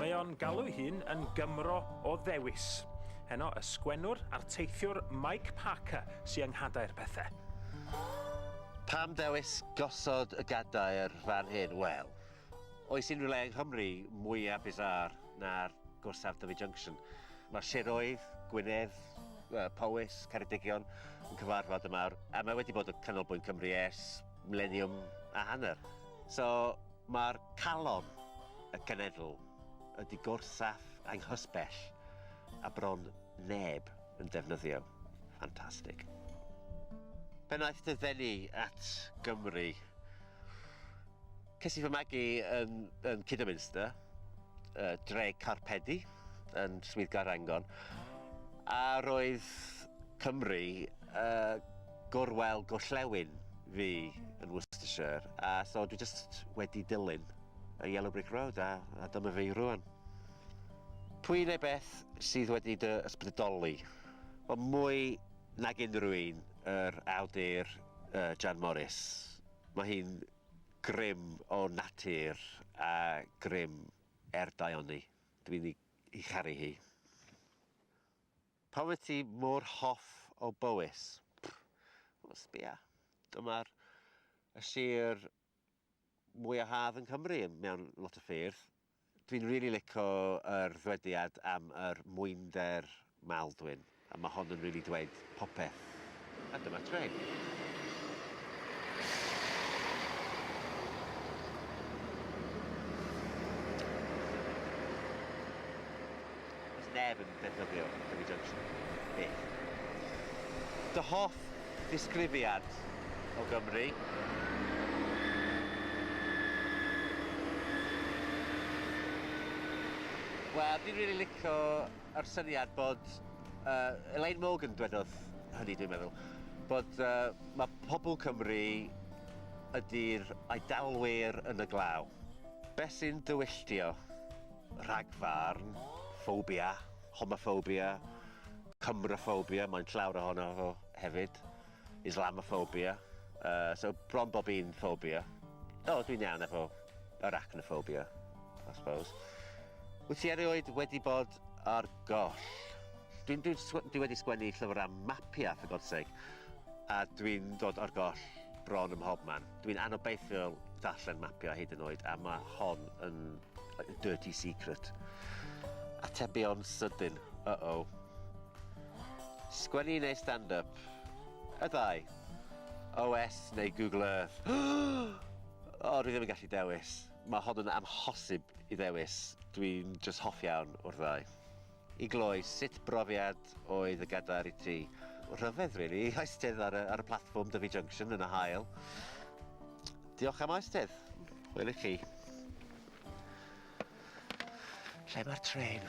Mae o'n galw hun yn Gymro o ddewis. Heno y sgwennwr a'r teithiwr Mike Parker sy'n yng nghadair pethau. Pam dewis gosod y gadair fan hyn? Wel, oes unrhyw le yng Nghymru mwyaf bizarre na'r gorsaf Dyfi Junction. Mae siroedd, Gwynedd, Powys, Ceredigion yn cyfarfod yma a mae wedi bod yn canolbwynt Cymru ers mileniwm a hanner. So mae'r calon y cenedl ydy gorsaf anghysbell a bron neb yn defnyddio. Ffantastig. Pennaeth dy ddenu at Gymru. Ces i fy magu yn, yn Kidderminster, uh, dre Carpedi, yn Swyddgar Rangon, a roedd Cymru uh, gorwel gorllewin fi yn Worcestershire, a so dwi just wedi dilyn y Yellow Brick Road, a, a dyma fi rwan. Pwy neu beth sydd wedi dy ysbrydoli? Wel, mwy nag unrhyw un, yr awdur uh, Jan Morris. Mae hi'n Grym o natur a grym er daioni. Dw i'n ei charu hi. Pam wyt ti mor hoff o Bowys? Wel, sbia. Dyma'r sir mwya' haf yn Cymru mewn lot o ffyrdd. Dwi'n rili lico yr ddwediad am yr mwynder Maldwyn, a ma hon yn rili dweud popeth. A dyma trên. Does neb yn ddefnyddio Dyfi Junction. Byth. Dy hoff ddisgrifiad o Gymru? Wel, fi'n rili lico yr syniad bod, yy, Elaine Morgan dwedodd hynny dwi'n meddwl, bod yy ma' pobol Cymru ydi'r Eidalwyr yn y glaw. Beth sy'n dy wylltio? Rhagfarn, ffobia, homoffobia, Cymroffobia, mae'n llawr ohono fo hefyd, Islamoffobia, uh, so bron bob un ffobia. O, oh, dwi'n iawn efo arachnoffobia, I suppose. Wyt ti erioed wedi bod ar goll? Dwi'n dwi, dwi wedi sgwennu llyfr am mapiau, for God's sake, a dwi'n dod ar goll bron ym mhob man. Dwi'n anobeithiol darllen mapio hyd yn oed a mae hon yn like a dirty secret. Atebion sydyn. Uh-oh. Sgwennu neu stand-up? Y ddau. OS neu Google Earth? o, dwi ddim yn gallu dewis. Mae hon yn amhosib i ddewis. Dwi'n just hoff iawn o'r ddau. I gloi, sut brofiad oedd y gadair i ti? Rhyfedd rili, really. Eisteddfod ar y, ar y platfform Dyfi Junction yn y hael. Diolch am aistedd. Wel i chi. Lle mae'r tren?